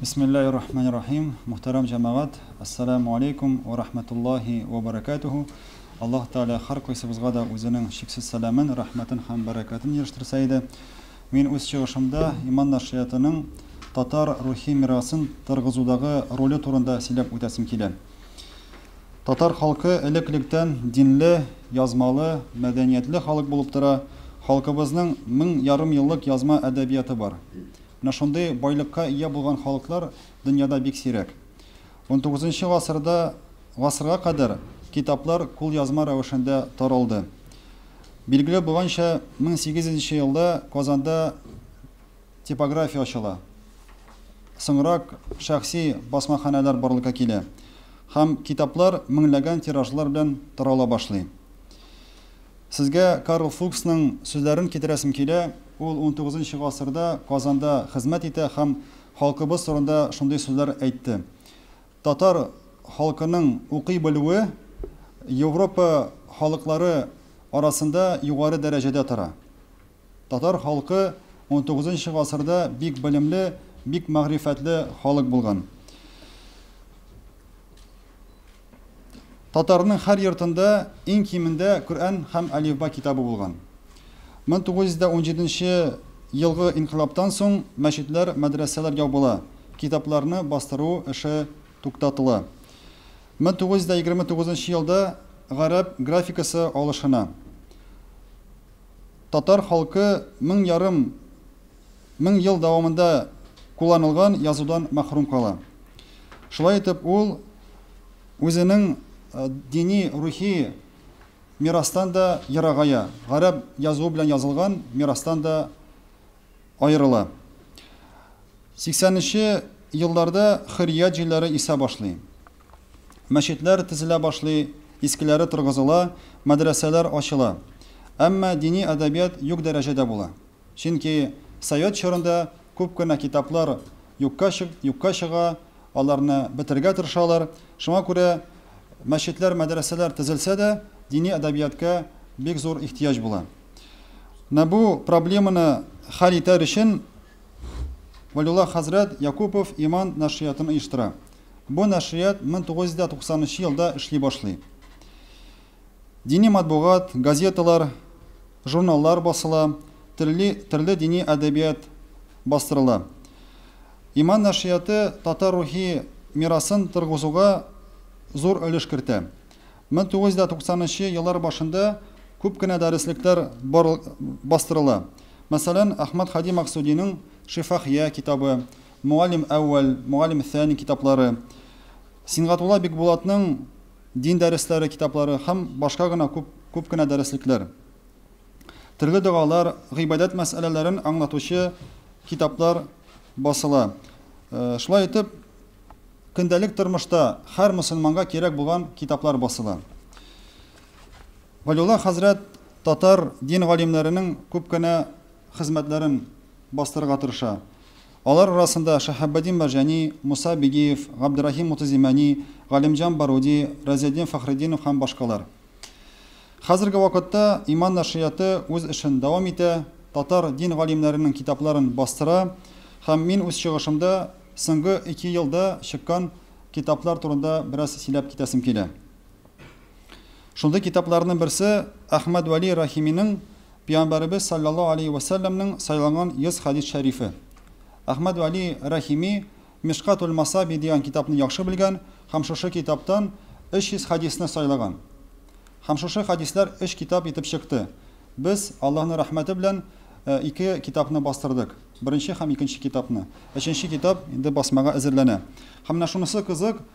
Бисмиллаһи рахмани рахим. Мөхтәрәм җәмәгать, Әссәләмү алейкум вә рахмәтуллаһи вә бәрәкәтүһү. Аллаһ Тәгалә һәркайсыбызга да үзенең чиксез сәламен, рәхмәтен һәм бәрәкәтен ирештерсә иде. Мин үз чыгышымда Иман нәшриятының татар рухи мирасын торгызудагы роле турында сөйләп үтәсем килә. Татар халкы элек-электән динле, язмалы, мәдәниятле халык булып тора, халкыбызның мең ярымьеллык язма әдәбияты бар. Менә шундый байлыкка ия булган халыклар дөньяда бик сирәк. Унтугызынчы гасырда гасырга кадәр китаплар кулъязма рәвешендә таралды. Билгеле булганча, 1800 елда Казанда типография ачыла. Соңрак шәхси басмаханәләр барлыкка килә һәм китаплар меңләгән тиражлар белән тарала башлый. Сезгә Карл Фуксның сүзләрен китерәсем килә, ул унтугызынчы гасырда Казанда хезмәт итә һәм халкыбыз турында шундый сүзләр әйтте, Татар халкының укый белүе Европа халыклары арасында югары дәрәҗәдә тора. Татар халкы унтугызынчы гасырда бик белемле, бик мәгърифәтле халык булган. Татарның һәр йортында иң кимендә Коръән һәм Әлифба китабы булган. 1917 нче елгы инкыйлабтан соң мәчетләр, мәдрәсәләр ябыла, китапларны бастыру эше туктатыла. 1929 нчы елда гарәп графикасы алышына. Татар халкы мең ярым Мең ел дәвамында кулланылган язудан мәхрүм кала. Шулай итеп, ул үзенең дини-рухи мирастан да ерагая, гарәп язуы белән язылган мирастан да аерыла. Сиксәненче елларда хөррият җилләре исә башлый. Мәчетләр тезелә башлый, искеләре торгызыла, мәдрәсәләр ачыла. Әмма дини әдәбият юк дәрәҗәдә була. Чөнки совет чорында күп кенә китаплар юкка юкка чыга, аларны бетергә тырышалар. Шуңа күрә мәчетләр, мәдрәсәләр төзелсә дә, дини әдәбиятка бик зур ихтыяҗ була. Менә бу проблеманы хәл итәр өчен Вәлиулла хәзрәт Якупов Иман нәшриятын оештыра. Бу нәшрият 1990 нчы елда эшли башлый. Дини матбугат, газеталар, журналлар басыла, терли, төрле дини әдәбият бастырыла. Иман нәшрияты татар рухи мирасын торгызуга зур өлеш кертә. 1990 нчы еллар башында күп кенә дәреслекләр бар, бастырыла. Мәсәлән, Әхмәт хади Максудиның Шифахия китабы, Мугаллим әүвәл, Мугаллим сәни китаплары, Сингатулла Бикбулатның дин дәресләре китаплары һәм башка гына күп күп кенә дәреслекләр, төрле догалар, гыйбадәт мәсьәләләрен аңлатучы китаплар басыла. Шулай итеп, көндәлек тормышта һәр мөселманга кирәк булган китаплар басыла. Вәлиулла хәзрәт татар дин галимнәренең күп кенә хезмәтләрен бастырырга тырыша. Алар арасында Шаһаббадин Марҗани, Муса Бигиев, Габдерахим Мутазимани, Галимҗан Баруди, Разетдин Фәхретдинов һәм башкалар. Хәзерге вакытта Иман нәшрияты үз эшен дәвам итә, татар дин галимнәренең китапларын бастыра һәм мин үз чыгышымда соңгы ике елда чыккан китаплар турында бераз сөйләп китәсем килә. Шундый китапларның берсе Әхмәд Вәли Рахиминең Пиямбәребез салләллаһу алейһи вә сәлләмнең сайланган 100 хәдис шәрифе. Әхмәд Вәли Рахими Мишкатул Масаби дигән китапны яхшы белгән һәм шушы китаптан 300 хәдисне сайлаган. Һәм шушы хәдисләр өч китап итеп чыкты. Без, Аллаһның рәхмәте белән, ике китапны бастырдык. Беренче һәм икенче китапны. Өченче китап инде басмага әзерләнә. Һәм менә шунысы кызык,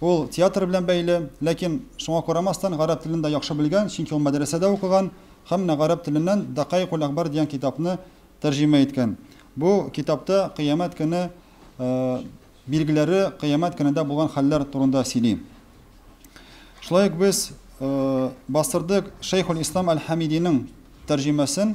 Ул театр белән бәйле, ләкин, шуңа карамастан, гарәп телен дә яхшы белгән, чөнки ул мәдрәсәдә укыган һәм менә гарәп теленнән Дакаикуль-Әхбар дигән китапны тәрҗемә иткән. Бу китапта кыямәт көне билгеләре, кыямәт көнендә булган хәлләр турында сөйли. Шулай ук без бастырдык Шәйхул-Ислам әл-Хәмидинең тәрҗемәсен.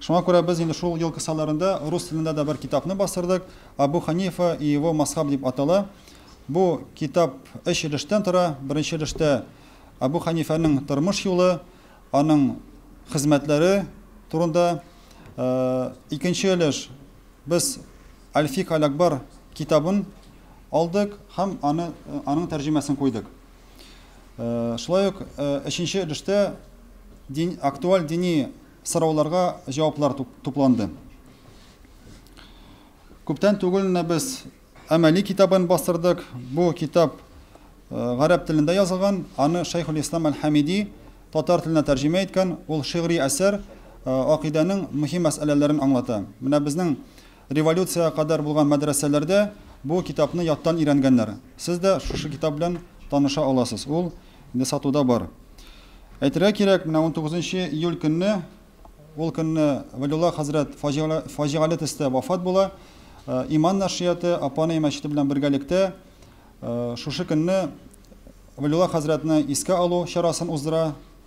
Шуңа күрә без инде шул ел кысаларында рус телендә дә бер китапны бастырдык, Абу Ханифа и его мазхаб дип атала. Бу китап өч өлештән тора. Беренче өлештә Абу Ханифәнең тормыш юлы, аның хезмәтләре турында. Икенче өлеш без Аль-Фикһ аль-Акбар китабын алдык һәм аны, аның тәрҗемәсен куйдык. Шулай ук өченче өлештә дин, актуаль дини Сорауларга җаваплар тупланды. Күптән түгел менә без Әмәли китабын бастырдык. Бу китап гарәп телендә язылган, аны Шәйхул Ислам Әл-Хамиди татар теленә тәрҗемә иткән. Ул шигъри әсәр, акыйдәнең мөһим мәсьәләләрен аңлата. Менә безнең Революциягә кадәр булган мәдрәсәләрдә бу китапны яттан өйрәнгәннәр. Сез дә шушы китап белән таныша аласыз. Ул инде сатуда бар. Әйтергә кирәк, менә унтугызынчы июль көнне, ул көнне Вәлиулла хәзрәт фаҗигале төстә вафат була. Иман нәшрияты Апанай мәчете белән бергәлектә шушы көнне Вәлиулла хәзрәтне искә алу чарасын уздыра.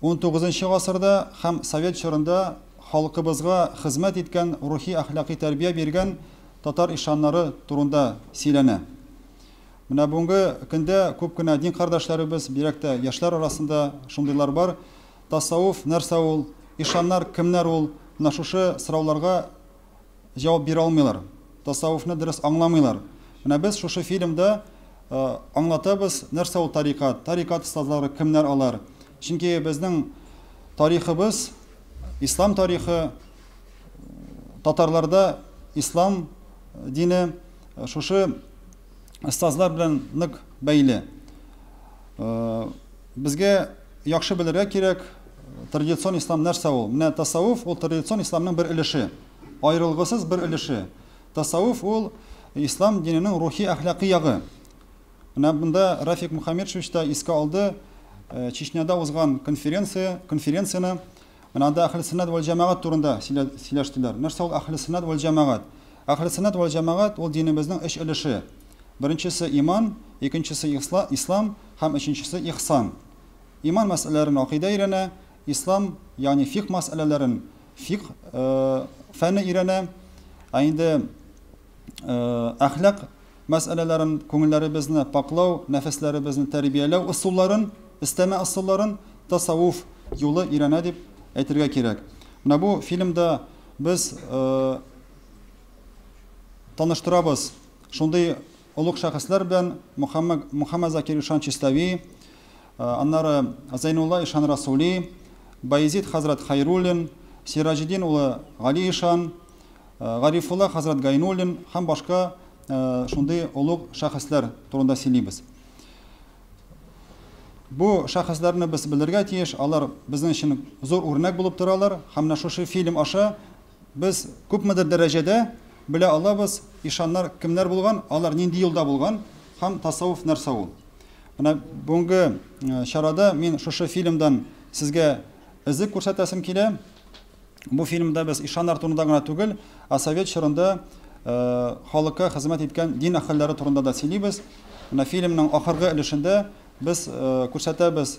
Унтугызынчы гасырда һәм совет чорында халкыбызга хезмәт иткән рухи-әхлакый тәрбия биргән татар ишаннары турында сөйләнә. Менә бүгенге көндә күп кенә дин кардәшләребез, бигрәк тә яшьләр арасында шундыйлар бар. Тасауф нәрсә ул? Ишаннар кемнәр ул? Менә шушы сорауларга җавап бирә алмыйлар, тасавуфны дөрес аңламыйлар. Менә без шушы фильмда аңлатабыз, нәрсә ул тарикат, тарикат остазлары кемнәр алар. Чөнки безнең тарихыбыз, ислам тарихы, татарларда ислам дине шушы остазлар белән нык бәйле. Безгә яхшы белергә кирәк, традицион ислам нәрсә ул? Менә тасаввуф ул традицион исламның бер өлеше, аерылгысыз бер өлеше. Тасаввуф ул ислам диненең рухи әхлакый ягы. Менә монда Рафик Мухаммедшевич та искә алды Чечняда узган конференция, конференцияне Менә анда Әхлесөннәт вәл җәмәгать турында сөйләштеләр. Нәрсә ул Әхлесөннәт вәл җәмәгать? Әхлесөннәт вәл җәмәгать ул динебезнең өч өлеше. Беренчесе, иман, икенчесе, ислам һәм өченчесе, ихсан. Иман мәсьәләләрен акыйдә өйрәнә, ислам, ягъни фикъ мәсьәләләрен фикъ фәне өйрәнә. Ә инде. әхлак мәсьәләләрен, күңелләребезне пакълау, нәфесләребезне тәрбияләү ысулларын, эстәмә ысулларын тасавуф юлы өйрәнә дип әйтергә кирәк. Менә бу фильмда без таныштырабыз шундый олуг шәхесләр белән Мухаммад, Мухаммад Закир Ишан Чистави, аннары Зайнулла Ишан Расули, Баязид хәзрәт Хайруллин, Сираҗетдин улы Гали Ишан, Гарифулла хәзрәт Гайнуллин һәм башка шундый олуг шәхесләр турында сөйлибез. Бу шәхесләрне без белергә тиеш, алар безнең өчен зур үрнәк булып торалар һәм менә шушы фильм аша без күпмедер дәрәҗәдә белә алабыз, ишаннар кемнәр булган, алар нинди юлда булган һәм тасаввуф нәрсә ул. Менә бүгенге э, чарада мин шушы фильмдан сезгә эзек күрсәтәсем килә. Бу фильмда без ишан артуында гына түгел, ә совет чорында халыкка хезмәт иткән дин әһелләре турында да сөйлибез. Менә фильмның ахыргы өлешендә без күрсәтәбез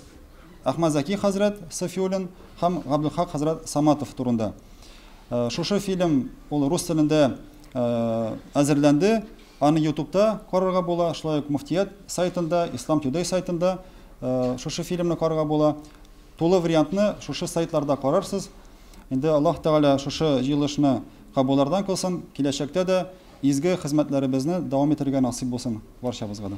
Әхмәт Зәки хәзрәт Сафиуллин һәм Габдулхак хәзрәт Саматов турында. Шушы фильм ул рус телендә әзерләнде. Аны ютубта карарга була, шулай ук муфтият сайтында, Ислам Today сайтында шушы фильмны карарга була. Тулы вариантны шушы сайтларда карарсыз. Инде Аллаһ Тәгалә шушы җыелышны кабулардан кылсын, киләчәктә дә изге хезмәтләребезне дәвам итәргә насыйп булсын барчабызга да.